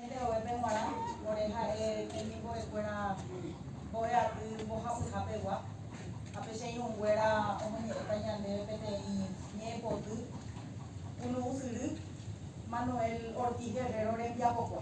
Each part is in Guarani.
Jerovépe g̃uarã, ore ha'e temimbo'ekuéra mbo'e aty mbohapyhapegua, ha pe che irũnguéra omoñe'ẽta ñandéve peteĩ ñe'ẽpoty punu ysyry, Manuel Ortiz Guerrero rembiapokue.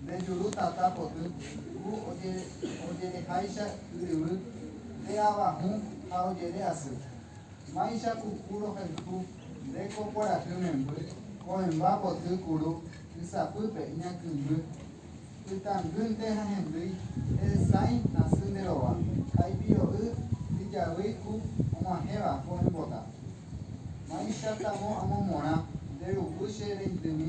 Nde juru tata poty, ku ojereháicha yryvy, nde ava hũ ha ojere asy. Máicha ku ku rohayhu, nde ko kuarahy memby, ko'ẽmba poty kuru ysapýpe iñakymby. Ytangýnte ha hendýi, nde sãi asy nde rova, ha ipiro'y ijavýi ku og̃uahẽva ko'ẽmbota. Máicha tamo amomorã, nde ruvu che reindymi.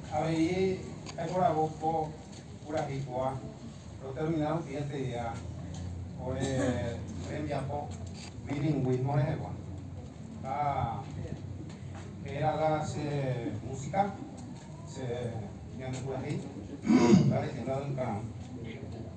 Avei aiporavo ko purahéi ko'a rotermina rupi aterea ore rembiapo bilingvismo rehegua. Ha héraga che músika, che ñande purahéi, la leyenda del Caram.